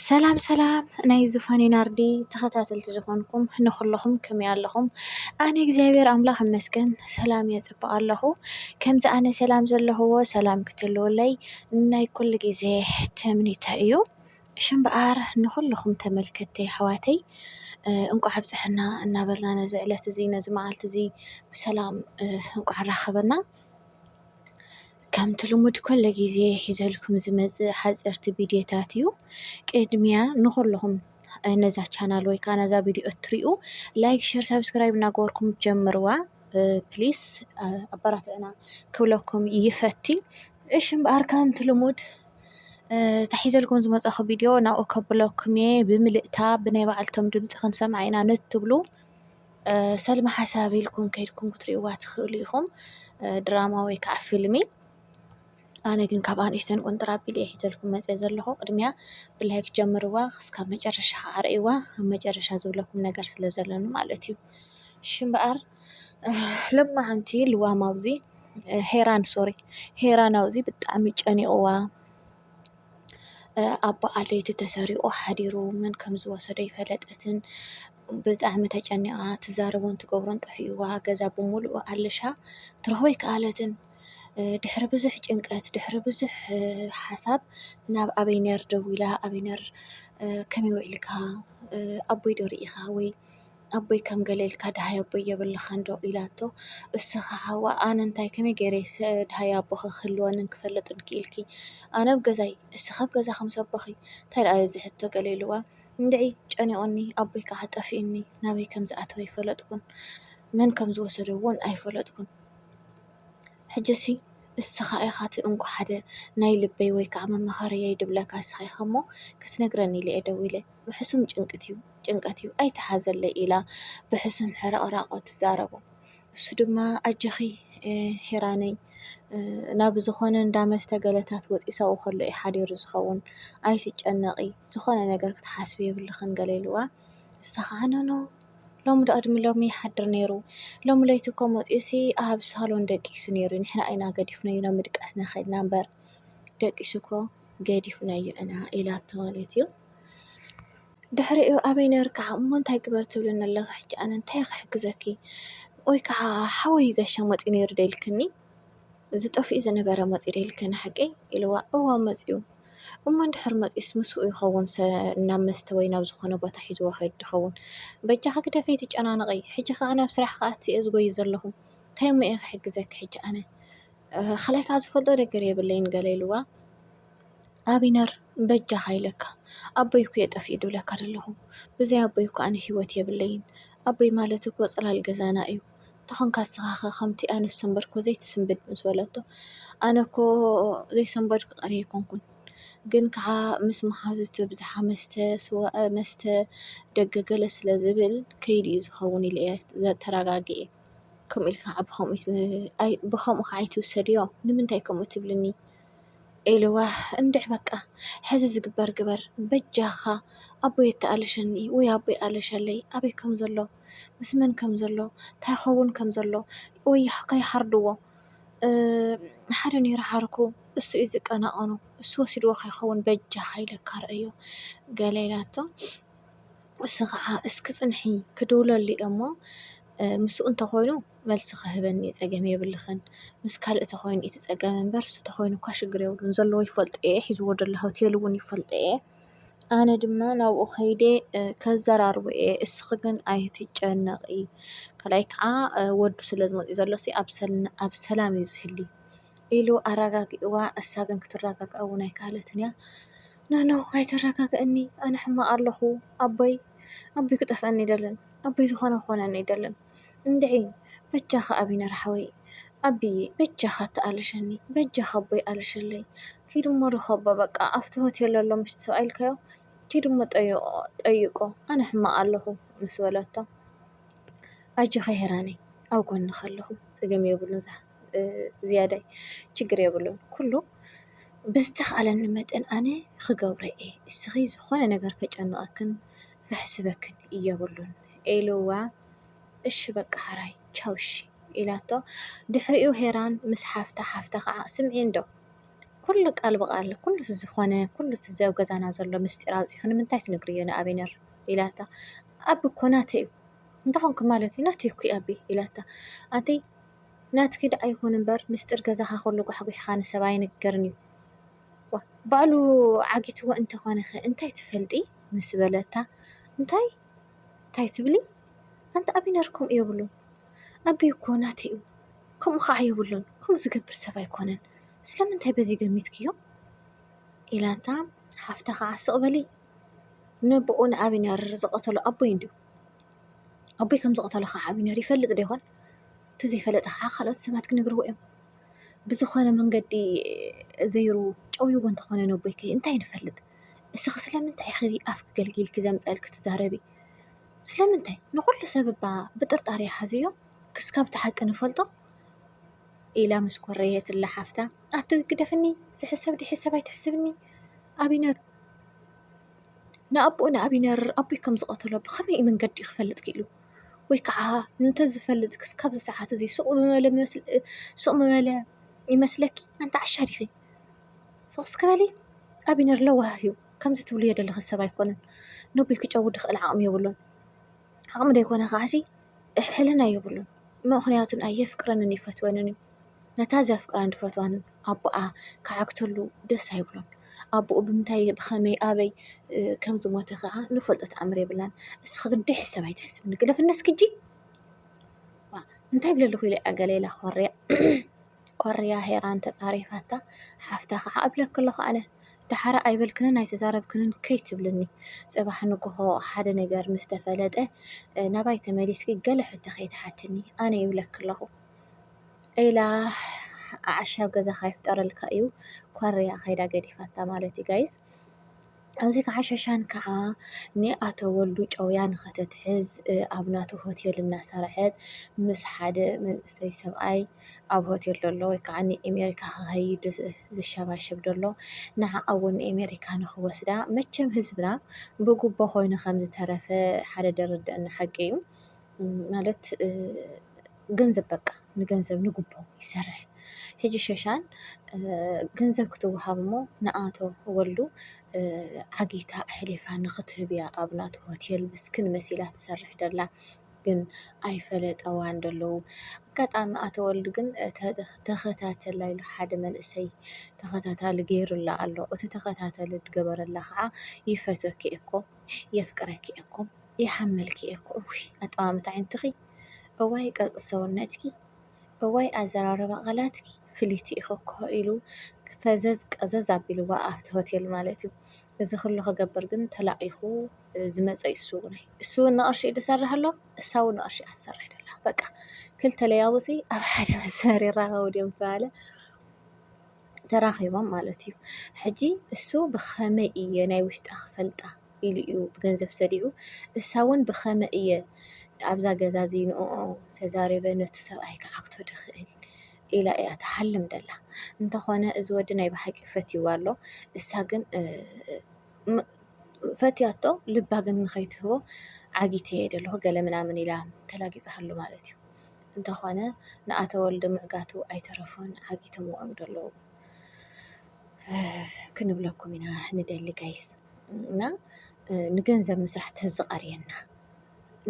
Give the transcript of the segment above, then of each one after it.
ሰላም ሰላም ናይ ዙፋኔ ናርዲ ተኸታተልቲ ዝኾንኩም ንኹለኹም ከመይ ኣለኹም? ኣነ እግዚኣብሔር ኣምላኽ ይመስገን ሰላም እየ ጽቡቕ ኣለኹ። ከምዚ ኣነ ሰላም ዘለኹዎ ሰላም ክትህልወለይ ናይ ኩሉ ግዜ ትምኒተይ እዩ። እሺ እምበኣር ንኹልኹም ተመልከትቲ ኣሕዋተይ እንቋዕ ኣብጽሐና እናበልና ነዚ ዕለት እዚ ነዚ መዓልቲ እዚ ብሰላም እንቋዕ ኣራኸበና። ከምቲ ልሙድ ኮሎ ግዜ ሒዘልኩም ዝመጽእ ሓጸርቲ ቪድዮታት እዩ። ቅድሚያ ንኹልኹም ነዛ ቻናል ወይ ከዓ ነዛ ቪድዮ እትሪኡ ላይክ፣ ሸር፣ ሳብስክራይብ እናገበርኩም ጀምርዋ ፕሊስ ኣበራትዕና ክብለኩም ይፈቲ። እሺ እምበኣር ከምቲ ልሙድ ተሒዘልኩም ዝመፀኹ ቪድዮ ናብኡ ከብለኩም እየ ብምልእታ ብናይ ባዕልቶም ድምፂ ክንሰምዓ ኢና ንትብሉ ሰልሚ ሓሳብ ኢልኩም ከድኩም ክትሪእዋ ትኽእሉ ኢኹም ድራማ ወይ ከዓ ፊልሚ ኣነ ግን ካብ ኣንእሽተን ቁንጥራ ኣቢለ እየ ሒዘልኩም መፅየ ዘለኹ ቅድሚያ ብላይክ ጀምርዋ ክስካብ መጨረሻ ከዓ ርእይዋ ኣብ መጨረሻ ዝብለኩም ነገር ስለ ዘለኒ ማለት እዩ እሺ እምበኣር ሎማዓንቲ ልዋም ኣብዚ ሄራን ሶሪ ሄራን ኣብዚ ብጣዕሚ ጨኒቕዋ ኣቦኣ ለይቲ ተሰሪቑ ሓዲሩ መን ከም ዝወሰዶ ኣይፈለጠትን። ብጣዕሚ ተጨኒቓ ትዛረቦን ትገብሮን ጠፊእዋ ገዛ ብምሉኡ ኣለሻ ክትረኽቦ ኣይከኣለትን። ድሕሪ ብዙሕ ጭንቀት ድሕሪ ብዙሕ ሓሳብ ናብ ኣበይነር ደዊላ ኣበይነር ከመይ ውዒልካ ኣቦይ ዶ ርኢኻ ወይ ኣቦይ ከም ገለ ኢልካ ደሃይ ኣቦይ የብልኻን ዶ ኢላቶ እሱ ኸዓ ዋእ ኣነ እንታይ ከመይ ገይረ ደሃይ ኣቦ ክህልወንን ክፈልጥን ክኢልኪ ኣነ ኣብ ገዛይ ንስኺ ኣብ ገዛኺ ምስ ኣቦኺ እንታይ ደኣ እዚ ሕቶ ገለ ኢልዋ እንድዒ ጨኒቁኒ ኣቦይ ከዓ ጠፊኡኒ ናበይ ከም ዝኣተወ ኣይፈለጥኩን መን ከም ዝወሰዶ እውን ኣይፈለጥኩን ሕጂሲ ንስኻ ኢኻ እቲ እንኮ ሓደ ናይ ልበይ ወይ ከዓ መማኸርየይ ድብለካ ንስኻ ኢኻ እሞ ክትነግረኒ ኢለ እየ ደዊለ ብሕሱም ጭንቀት እዩ ጭንቀት እዩ ኣይትሓዘለይ ኢላ ብሕሱም ሕርቕራቖ ትዛረቦ። እሱ ድማ ኣጀኺ ሄራነይ ናብ ዝኾነ እንዳ መስተ ገለታት ወጢሳኡ ከሎ እዩ ሓዲሩ ዝኸውን ኣይትጨነቒ ዝኾነ ነገር ክትሓስቢ የብልኽን ገለ ኢልዋ ንሳ ከዓ ኖኖ ሎሚ ዶ ቅድሚ ሎሚ ይሓድር ነይሩ ሎሚ ለይቲ እኮ መፂኡሲ ኣብ ሳሎን ደቂሱ ነይሩ ንሕና ኢና ገዲፍናዮ ናብ ምድቃስና ከድና እምበር ደቂሱ እኮ ገዲፍናዮ ኢና ኢላቶ ማለት እዩ። ድሕሪኡ ኣበይ ነርካ እሞ እንታይ ግበር ትብልኒ ኣለኺ ሕጂ ኣነ እንታይ ክሕግዘኪ ወይ ከዓ ሓወይ ጋሻ መፂኡ ነይሩ ዶ ኢልክኒ እዚ ጠፊኡ ዝነበረ መፂኡ ዶ ኢልክኒ ሓቂ ኢልዋ እወ መፂኡ እሞ እንድሕር መፂኡስ ምስኡ ይኸውን ናብ መስተ ወይ ናብ ዝኾነ ቦታ ሒዝዎ ክኸይድ ይኸውን በጃኺ ግደፊ ኣይትጨናነቒ ሕጂ ከዓ ናብ ስራሕ ክኣቱ እየ ዝጎዪ ዘለኹ እንታይ እሞ እየ ክሕግዘኪ ሕጂ ኣነ ኻልኣይ ካኣ ዝፈልጦ ነገር የብለይን ገለ ኢልዋ ኣቢነር በጃኻ ኢለካ ኣቦይ እኮ ጠፊኡ ድብለካ ደለኹ ብዘይ ኣቦይ እኮ ኣነ ሂወት የብለይን ኣቦይ ማለት እኮ ጽላል ገዛና እዩ ተኾንካ ንስኻ ከ ከምቲ ኣነ ዝሰንበድኩ ዘይትስንብድ ምስ በለቶ ኣነ እኮ ዘይሰንበድኩ ቀርየ ኣይኮንኩን ግን ካኣ ምስ መሓዙቱ ብዝሓ መስተ ስዋ መስተ ደገ ገለ ስለ ዝብል ከይዱ እዩ ዝኸውን ኢለ እየ ተራጋጊኤ። ከምኡ ኢልካ ከዓ ብከምኡ ኣይ ብከምኡ ከዓ ኣይትውሰድዮ ንምንታይ ከምኡ ትብልኒ ኢልዋ እንድዒ በቃ ሕዚ ዝግበር ግበር በጃካ ኣቦይ ኣታኣለሸኒ ወይ ኣቦይ ኣለሸለይ ኣበይ ከም ዘሎ ምስ መን ከም ዘሎ ታይ ክከውን ከም ዘሎ ወይ ከይሓርድዎ ሓደ ነይሩ ዓርኩ እሱ እዩ ዝቀናቀኖ እሱ ወሲድዎ ከይከውን በጃካ ኢለካ ረኣዮ ገለ ኢላቶ። እሱ ኸዓ እስኪ ፅንሒ ክድውለሉ እየ እሞ ምስኡ እንተኾይኑ መልሲ ኽህበኒ እዩ ፀገም የብልኽን ምስ ካልእ እንተኾይኑ እቲ ፀገም እምበር እሱ እንተኾይኑ እኳ ሽግር የብሉን ዘለዎ ይፈልጦ እየ ሒዝዎ ዘሎ ሆቴል እውን ይፈልጦ እየ ኣነ ድማ ናብኡ ከይደ ከዘራርቦ እየ እስኺ ግን ኣይትጨነቒ ካልኣይ ከዓ ወዱ ስለ ዝመፅኡ ዘሎ ኣብ ሰላም እዩ ዝህሊ ኢሉ ኣራጋጊእዋ እሳ ግን ክትራጋጋእ እውን ኣይከኣለትን እያ። ኖኖ ኣይተረጋግእኒ ኣነ ሕማቅ ኣለኩ ኣቦይ ኣቦይ ክጠፍኣኒ ኣይደልን ኣቦይ ዝኮነ ክኮነኒ ኣይደልን እንድዒ በጃካ ኣቢነር ሓወይ ኣቢየ በጃካ ኣተኣለሸኒ በጃካ ኣቦይ ኣለሸለይ ኪድ እሞ ርኮቦ በቃ ኣብቲ ሆቴል ዘሎ ምስቲ ሰብኣይ ኢልካዮ ኪድ እሞ ጠይቆ ኣነ ሕማቅ ኣለኩ ምስ በለቶ ኣጆኪ ሄራነይ ኣብ ጎንኪ ኣለኩ ጸገም የብሉን። ዝያዳይ ችግር የብሉን ኩሉ ብዝተኻኣለኒ መጠን ኣነ ኽገብሮ እየ እስኺ ዝኾነ ነገር ከጨንቀክን ከሕስበክን የብሉን ኢልዋ እሺ በቃ ሐራይ ቻው እሺ ኢላቶ ድሕሪኡ ሄራን ምስ ሓፍታ ሓፍታ ኸዓ ስምዒ እንዶ ኩሉ ቃል ብቓል ኩሉ ዝኾነ ኩሉ እቲ ኣብ ገዛና ዘሎ ምስጢር ኣውፂእኺ ንምንታይ ትነግርዮ ንኣብነር ኢላታ ኣቢ እኮ ናተይ እዩ እንታይ ኾንክ ማለት እዩ ናተይ እኮ እዩ ኣቢ ኢላታ ኣንተይ ናትኪ ደኣ ይኹን እምበር ምስጢር ገዛኻ ኩሉ ጓሕጒሕካ ንሰብ ኣይንገርን እዩ። ዋእ! ባዕሉ ዓጊትዎ እንተኾነኸ እንታይ ትፈልጢ? ምስ በለታ፣ እንታይ? እንታይ ትብሊ? ኣንታ ኣቢነር ከምኡ የብሉን። ኣቢይ እኮ ናተይ እዩ። ከምኡ ኸኣ የብሉን። ከምኡ ዝገብር ሰብ ኣይኮነን። ስለምንታይ በዚ ገሚትክዮ? ኢላታ፣ ሓፍታ ኸኣ ስቕ በሊ! ነቦኡ ንኣቢነር ዝቐተሎ ኣቦይ እንድዩ። ኣቦይ ከም ዝቐተሎ ኸዓ ዓብዩ ነይሩ ይፈልጥ ዶ ይኾን? ተዘይፈለጠ ኸዓ ኻልኦት ሰባት ክነግርዎ እዮም። ብዝኾነ መንገዲ ዘይሩ ጨውይዎ እንተኾነ ነቦይኪ እንታይ ንፈልጥ? እስኺ ስለምንታይ ኢኺ ኣፍኪ ገልጊልኪ ዘምፀእኪ ትዛረቢ? ስለምንታይ ንኹሉ ሰብ እባ ብጥርጣረ ይሓዝዮ ክስካብ እቲ ሓቂ ንፈልጦ ኢላ ምስ ኮረየትላ ሓፍታ ኣቲ ግደፍኒ ዝሕሰብ ዘይሕሰብ ኣይትሕስብኒ ኣቢነር። ንኣቦኡ ንኣብነር ኣቦይ ከም ዝቐተሎ ብኸመይ መንገዲ እዩ ክፈልጥ ክኢሉ? ወይ ከዓ እንተዝፈልጥ ክሳብ እዚ ሰዓት እዚ ስቕ ምበለ ስቕ ምበለ ይመስለኪ? ኣንቲ ዓሻ ዲኺ? ስቕ እስኪ በሊ ኣብነር ለዋህ እዩ ከምዚ ትብልዮ ዘለኺ ሰብ ኣይኮነን። ነቦይ ክጨውዶ ዝኽእል ዓቕሚ የብሉን። ዓቕሚ ደይኮነ ኸዓሲ ሕልና የብሉን ምኽንያቱን ኣየፍቅረንን ይፈትወንን ነታ ዘፍቅራን ድፈትዋን ኣቦኣ ክዓግተሉ ደስ ኣይብሎን ኣቦኡ ብምንታይ ብኸመይ ኣበይ ከም ዝሞተ ኸዓ ንፈልጦ ተኣምር የብልናን እስኺ ግዲ ሕሰብ ኣይትሕስቢ ንግደፍኒ እስኪ ሕጂ እንታይ እብሊ ኣለኹ ኢለ እያ ገለ ኢላ ኮርያ። ኮርያ ሄራን ተጻሪፋታ ሓፍታ ከኣ እብለኪ ኣለኩ ኣነ ደሓር ኣይበልክንን ኣይተዛረብክንን ከይትብልኒ ጽባሕ ንግሆ ሓደ ነገር ምስ ተፈለጠ ናባይ ተመሊስኪ ገለ ሕቶ ከይትሓትኒ ኣነ ይብለኪ ኣለኩ ኢላ ኣዕሻ ኣብ ገዛካ ይፍጠረልካ ኢዩ ኮርያ ከይዳ ገዲፋታ ማለት ኢዩ ጋይስ። ኣብዚ ከዓ ሸሻን ከዓ ንኣቶ ወልዱ ጨውያ ንኸተትሕዝ ኣብ ናቱ ሆቴል እናሰርሐት ምስ ሓደ መንእሰይ ሰብኣይ ኣብ ሆቴል ደሎ ወይ ከዓ ንኤሜሪካ ኸኸይድ ዝሸባሸብ ደሎ ንዓኣውን ንኤሜሪካ ንኽወስዳ መቸም ህዝብና ብጉቦ ኾይኑ ኸም ዝተረፈ ሓደ ደርድአና ሓቂ እዩ ማለት ገንዘብ በቃ ንገንዘብ ንጉቦ ይሰርሕ ሕጂ ሸሻን ገንዘብ ክትወሃብ እሞ ንኣቶ ወልዱ ዓጊታ ኣሕሊፋ ንኽትህብ እያ ኣብ ናቱ ሆቴል ምስክን መሲላ ትሰርሕ ደላ ግን ኣይፈለጠዋን ደለዉ ኣጋጣሚ ኣቶ ወልዱ ግን ተኸታተላ ኢሉ ሓደ መንእሰይ ተኸታታሊ ገይሩላ ኣሎ እቲ ተኸታተሊ ዝገበረላ ከዓ ይፈትወኪ እየ እኮ የፍቅረኪ እየ እኮ ይሓመልኪ እየ እኮ እውይ ኣጠማምታ ኣዒንትኺ እዋይ ቅርፂ ሰውነትኪ እዋይ ኣዘራርባ ቃላትኪ ፍልይቲ ኢኺ እኮ ኢሉ ፈዘዝ ቀዘዝ ኣቢልዋ ኣብቲ ሆቴል ማለት እዩ። እዚ ኩሉ ክገብር ግን ተላኢኹ ዝመፀ እዩ እሱ እውነይ እሱ እውን ንቕርሺ እዩ ዝሰርሕ ኣሎ እሳ እውን ንቕርሺ እያ ትሰርሕ ደላ በቃ ክልተ ለያውፂ ኣብ ሓደ መስመር ይራኸቡ ድዮም ዝተባህለ ተራኺቦም ማለት እዩ ሕጂ እሱ ብኸመይ እየ ናይ ውሽጣ ክፈልጣ ኢሉ እዩ ብገንዘብ ሰዲዑ እሳ ውን ብከመ እየ ኣብዛ ገዛ ዝይንእኦ ተዛሪበ ነቱ ሰብኣይ ክዓግቶ ድክእል ኢላ እያ ትሓልም ደላ እንተኮነ እዚ ወዲ ናይ ብሓቂ ፈትይዋ ኣሎ እሳ ግን ፈትያቶ ልባ ግን ንከይትህቦ ዓጊተ እየ ደለኩ ገለ ምናምን ኢላ ተላጊጻሃሉ ማለት እዩ እንተኮነ ንኣቶ ወልደ ምዕጋቱ ኣይተረፎን ዓጊቶምዎ እዮም ደለዉ። ክንብለኩም ኢና ንደሊ ጋይስ እና ንገንዘብ ምስራሕ ተዝቐርየና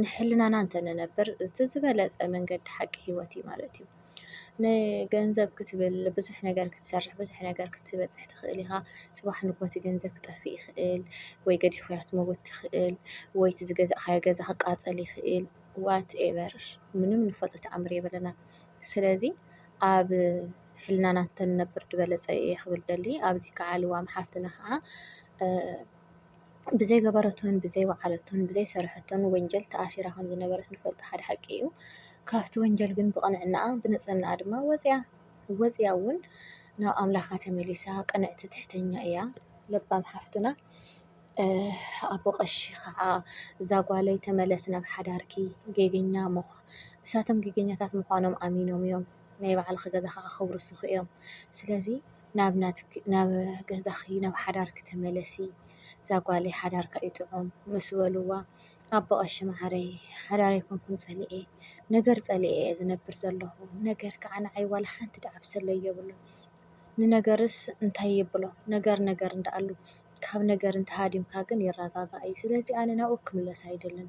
ንሕልናና እንተንነብር እቲ ዝበለፀ መንገዲ ሓቂ ህይወት እዩ ማለት እዩ። ንገንዘብ ክትብል ብዙሕ ነገር ክትሰርሕ ብዙሕ ነገር ክትበፅሕ ትኽእል ኢኻ። ፅባሕ ንግሆ እቲ ገንዘብ ክጠፍእ ይኽእል ወይ ገዲፍካዮ ክትመውት ትኽእል ወይ እቲ ዝገዛእኻዮ ገዛ ክቃፀል ይኽእል ዋት ኤቨር ምንም ንፈልጦ ተኣምር የብልናን። ስለዚ ኣብ ሕልናና እንተንነብር ድበለጸ እየ ክብል ደሊ ኣብዚ ክዓ ልዋም ሓፍትና ክዓ ብዘይ ገበረቶን ብዘይ ወዓለቶን ብዘይ ሰርሐቶን ወንጀል ተኣሲራ ከም ዝነበረት ንፈልጦ ሓደ ሓቂ እዩ ካብቲ ወንጀል ግን ብቕንዕናኣ ብንጽህናኣ ድማ ወጽያ ወጽያ ውን ናብ ኣምላካ ተመሊሳ ቅንዕቲ ትሕተኛ እያ ለባም ሓፍትና ኣቦ ቀሺ ክዓ እዛ ጓለይ ተመለሲ ናብ ሓዳርኪ ጌገኛ ምኽ እሳቶም ጌገኛታት ምዃኖም ኣሚኖም እዮም። ናይ ባዕልኺ ገዛ ኸዓ ከፍርሱኺ እዮም። ስለዚ ናብ ናትኪ ናብ ገዛኺ ናብ ሓዳርኪ ተመለሲ እዛ ጓለይ ሓዳርካ እዩ ጥዑም ምስ በልዋ ኣቦ ቐሺ ማዓረይ ሓዳር ኣይኮንኩን ፀሊኤ ነገር ፀሊኤ እየ ዝነብር ዘለኹ ነገር ከዓ ንዓይ ዋላ ሓንቲ ዳዕብሰለ የብሉን። ንነገርስ እንታይ የብሎ ነገር ነገር እንዳኣሉ ካብ ነገር እንተሃዲምካ ግን ይረጋጋእ እዩ። ስለዚ ኣነ ናብኡ ክምለስ ኣይደልን።